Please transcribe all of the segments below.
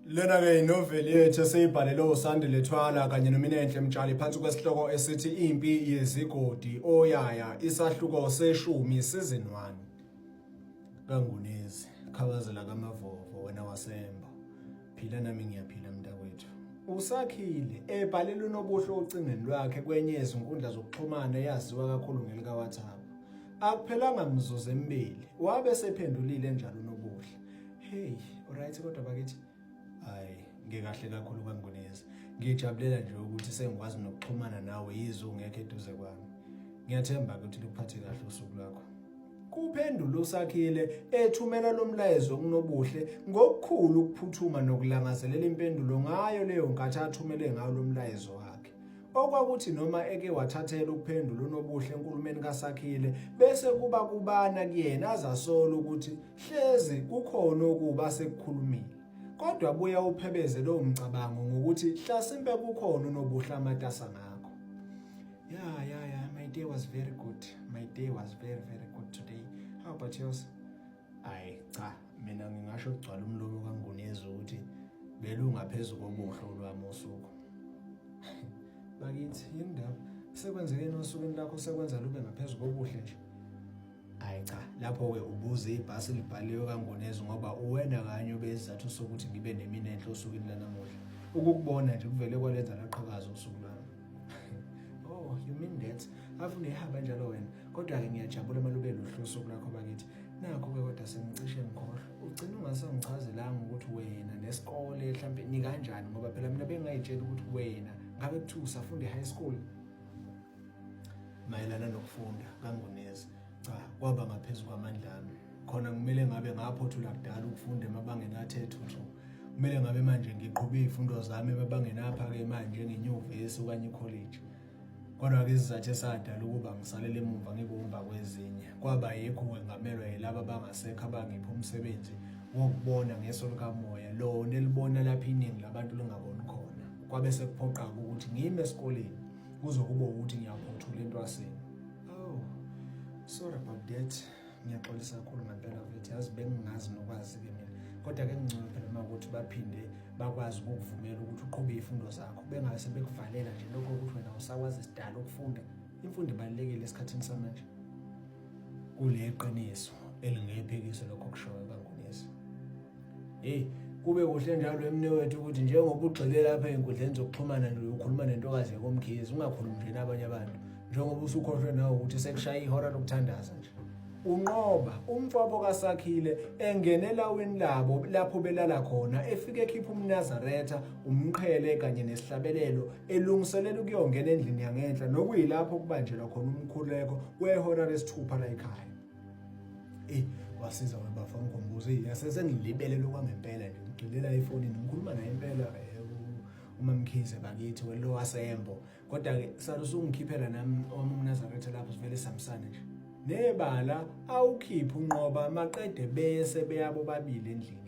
Lena-ke inoveli yethu esiyibhalelwe uSandile Thwala kanye noMinenhle Mtshali phansi kwesihloko esithi Impi Yezigodi Oyaya isahluko seshumi season 1 kaNgunezi khabazela kaMavovo wena wasemba phila nami ngiyaphila mntakwethu usakhile ebhalele unobuhle ocingweni lwakhe kwenye yezinkundla zokuxhumana eyaziwa kakhulu ngelikaWhatsApp akuphelanga mzuzu emibili wabe sephendulile njalo unobuhle Hey, alright kodwa bakithi. Hayi, ngikahle kakhulu kangonezi. Ngijabulela nje ukuthi sengikwazi nokuxhumana nawe yizo ngeke eduze kwami. Ngiyathemba ukuthi luphathe kahle usuku lwakho. Kuphendula uSakhile ethumela lomlayezo kuNobuhle ngokukhulu ukuphuthuma nokulangazelela impendulo ngayo leyo nkathi athumele ngayo lomlayezo wakhe. okwakuthi noma eke wathathela ukuphendula uNobuhle enkulumeni kaSakhile bese kuba kubana kuyena azasola ukuthi hlezi kukhona okuba sekukhulumile kodwa buya uphebeze lo mcabango ngokuthi hlasimpe kukhona uNobuhle amatasa ngakho yeah yeah yeah my day was very good my day was very very good today how about yours hayi cha mina ngingasho kugcwala umlomo kangunezi ukuthi belungaphezu kobuhle olwami usuku bakithi yini ndaba sekwenzekeni osukwini lakho sekwenza lube ngaphezu kobuhle nje hayi cha lapho-ke ubuze ibhasi libhaliwe kangonezi ngoba uwena kanye obesizathu sokuthi ngibe nemina enhle osukwini lanamuhla ukukubona nje kuvele kwalenza laqhakaza usuku lwami Oh, you mean that? Afune ihaba njalo wena. Kodwa ke ngiyajabula uma lube luhlu usuku lakho bakithi. Nakho ke kodwa sengicishe ngikhohlwa. Ugcina ungasangichazelanga ukuthi wena nesikole mhlambe ni kanjani ngoba phela mina bengayitshela ukuthi wena ngabe kuthiwa usafunda high school mayelana nokufunda kangonezi. Cha, kwaba ngaphezu kwamandla ami. Khona kumele ngabe ngaphothula kudala ukufunda emabangeni athe thuthu. Kumele ngabe manje ngiqhube izifundo zami emabangeni aphake manje ngenyuvesi okanye icollege. Kodwa-ke isizathu esadala ukuba ngisalele emuva ngibumba kwezinye kwaba yikho ngengamelwa yilaba abangasekho abangipha umsebenzi wokubona ngeso likamoya lona elibona lapho iningi labantu lingaboni khona kwabe sekuphoqa-ke ukuthi ngime esikoleni kuzokuba ukuthi ngiyaphothula entwaseni Oh, sorry about that. Ngiyaxolisa kakhulu ngempela mfethu yazi bengingazi nokwazi-ke mina kodwa ke ngcono phela uma ukuthi baphinde bakwazi ukukuvumela ukuthi uqhube izifundo zakho bengabe sebekuvalela nje lokho ukuthi wena usakwazi sidala ukufunda imfundo ibalulekile esikhathini samanje kule qiniso elingephekiso lokho kushoyo kangunesi Hey, kube kuhle njalo emne wethu ukuthi njengoba ugxile lapha ezinkundleni zokuxhumana nje ukhuluma nentokazi yakomkhizi ungakhulumi nje nabanye abantu njengoba usukhohlwe nawe ukuthi sekushaya ihora lokuthandaza nje unqoba umfabo kaSakhile engena elawini labo lapho belala khona efike ekhipha umnazaretha umqhele kanye nesihlabelelo elungiselela ukuyongena endlini yangenhla nokuyilapho kubanjelwa khona umkhuleko kwehora lesithupha la ekhaya eyi wasiza webafa ngikhombuza eyi sesengilibele lokwangempela nje ngigxilela efonini ngikhuluma naye impela umamkhize bakithi welo wasembo kodwa-ke salusa ungikhiphela nami owami umnazaretha lapho sivele sihambisane nje nebala awukhiphe unqoba maqede bese beyabo babili endlini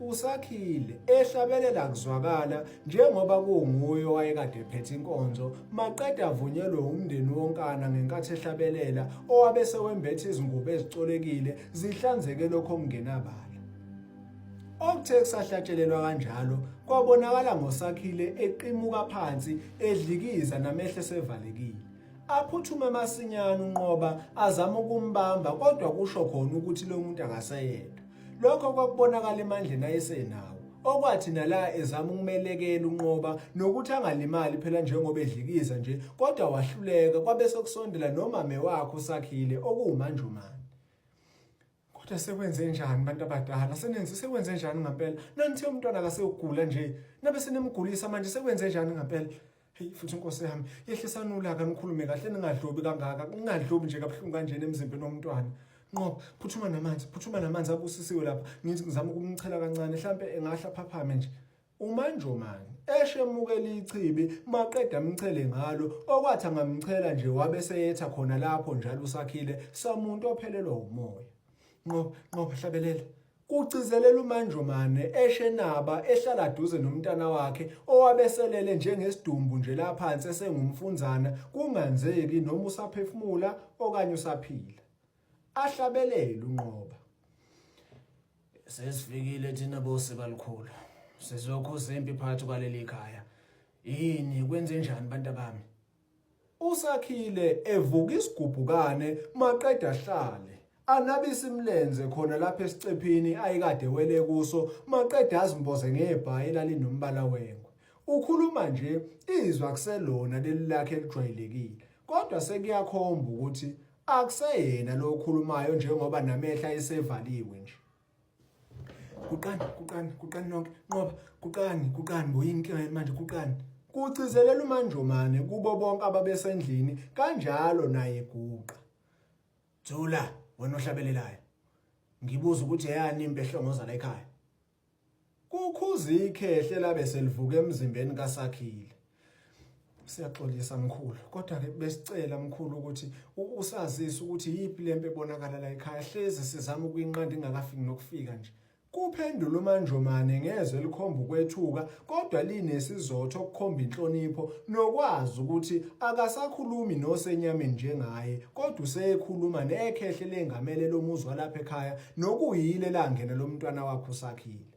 uSakhile ehlabelela kuzwakala njengoba kunguye owayekade ephethe inkonzo maqeda avunyelwe umndeni wonkana ngenkathi ehlabelela owabe sewembethe izingubo ezicolekile zihlanzeke lokho okungenabala Okuthe kusahlatshelelwa kanjalo kwabonakala ngoSakhile eqimuka phansi edlikiza namehlo sevalekile aphuthume masinyane unqoba azama ukumbamba kodwa kusho khona ukuthi lo muntu akaseyedwa Lokho kwakubonakala emandleni ayesenawo okwathi nala ezama ukumelekela unqoba nokuthi angalimali phela njengoba edlikiza nje kodwa wahluleka kwabe sokusondela nomame wakhe usakhile okuwumanjumane kodwa sekwenze njani bantu abadala senenze sekwenze njani ngampela nanithe umntwana akasewugula nje nabe senemgulisa manje sekwenze njani ngampela Hey futhi inkosi yami yehlisani ulaka nikhulume kahle ningadlobi kangaka kungadlobi nje kabuhlungu kanjena emzimbeni womntwana nqoba phuthuma namanzi phuthuma namanzi abusisiwe lapha ngithi ngizama ukumchela kancane mhlampe engahla phaphame nje umanjomani eshe emukela ichibi maqeda amchele ngalo okwathi angamchela nje wabe seyetha khona lapho njalo usakhile samuntu ophelelwa umoya nqoba nqoba hlabelela kugcizelela uManjomane eShenaba ehlala duze nomntana wakhe owabeselele njengesidumbu nje la phansi esengumfunzana kunganzeki noma usaphefumula okanye usaphila. Ahlabelele uNqoba. Sesifikile thina bosika likhulu. Sizokhuza impi phakathi kwaleli khaya. Yini kwenze njani bantabami? USakhile evuka isigubhukane maqede ahlale. Anabise imilenze khona lapha esicephini ayekade wele kuso maqede azimboze ngebhayi elalinombala wengwe. Ukhuluma nje izwa kuselona leli lakhe elijwayelekile kodwa sekuyakhomba ukuthi akuseyena lo okhulumayo njengoba namehla esevaliwe nje. guqani guqani guqani nonke nqoba guqani guqani boyini inkinga yenu manje guqani kugcizelela umanjomane kubo bonke ababesendlini kanjalo naye guqa thula wena ohlabelelayo ngibuza ukuthi eyani impi ehlongoza la ekhaya Kukhuza ikhehle labe selivuka emzimbeni kaSakhile. Siyaxolisa mkhulu kodwa ke besicela mkhulu ukuthi usazise ukuthi yipi lempe ebonakala la ekhaya hlezi sizama ukuyinqanda ingakafiki nokufika nje. Kuphendula uManjomane ngezwe elikhomba ukwethuka kodwa linesizotha okukhomba inhlonipho nokwazi ukuthi akasakhulumi nosenyameni njengaye kodwa usekhuluma nekhehle lengamele lomuzwa lapha ekhaya nokuyilo elangene lomntwana wakho usakhile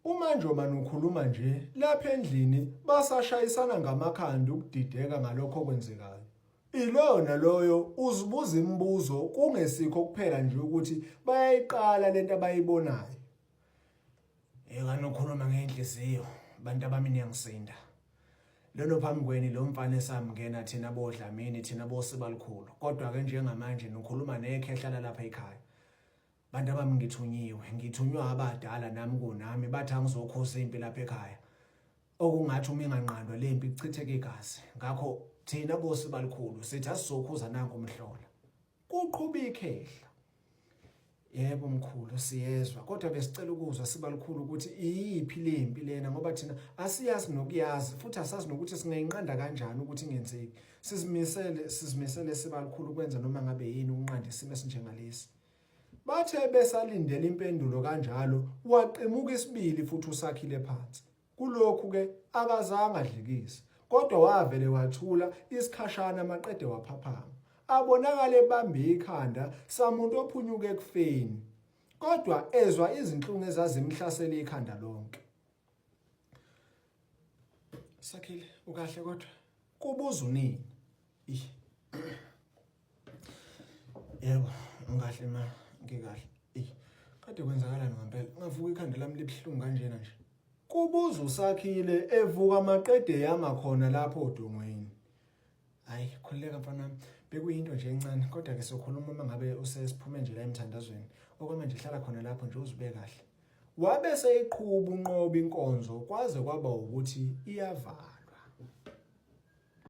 Uma nje manje ukhuluma nje lapha endlini basashayisana ngamakhanda ukudideka ngalokho okwenzekayo. Ilona loyo uzibuza imibuzo kungesikho kuphela nje ukuthi bayayiqala lento abayibonayo. Ingane ukhuluma ngenhliziyo bantu abami niyangisinda. Lelo phambi kweni lo mfana esamngena thina bodlamini thina bosibalukhulu kodwa ke njengamanje nikhuluma nekhehla lalapha ekhaya. Bantu abami ngithunyiwe ngithunywa abadala nami kunami bathi angizokhoza impi lapha ekhaya. Okungathi uma inganqandwa le mpi kuchitheke igazi ngakho thina bosibalukhulu sithi asizokhuza nanku umhlola. Kuqhuba ikhehla. Yebo mkhulu siyezwa kodwa besicela ukuzwa sibalukhulu ukuthi iyiphi lempi lena ngoba thina asiyazi nokuyazi futhi asazi nokuthi singayinqanda kanjani ukuthi ingenzeki sizimisele sizimisele sibalukhulu kwenza noma ngabe yini ukunqanda isimo esinjengalesi bathe besalindele impendulo kanjalo waqimuka isibili futhi usakhile phansi Kulokhu ke akazange adlikise kodwa wavele wathula isikhashana maqede waphaphama. Abonakale ebambe ikhanda samuntu ophunyuke ekufeni kodwa ezwa izinhlungu ezazimhlasele ikhanda lonke. Sakhile ukahle kodwa kubuza unini. Yebo, ngikahle ma, ngikahle. Ey, kade kwenzakalani ngempela? Ngavuka ikhanda lami libuhlungu kanjena nje. Kubuza uSakhile evuka maqede yama khona lapho odongweni. Hayi, khululeka mfana wami. Bekuyinto nje encane, kodwa ke sokhuluma uma ngabe usesiphume nje la emthandazweni. Okwamanje hlala khona lapho nje uzube kahle. Wabe seyiqhuba unqoba inkonzo kwaze kwaba ukuthi iyavala.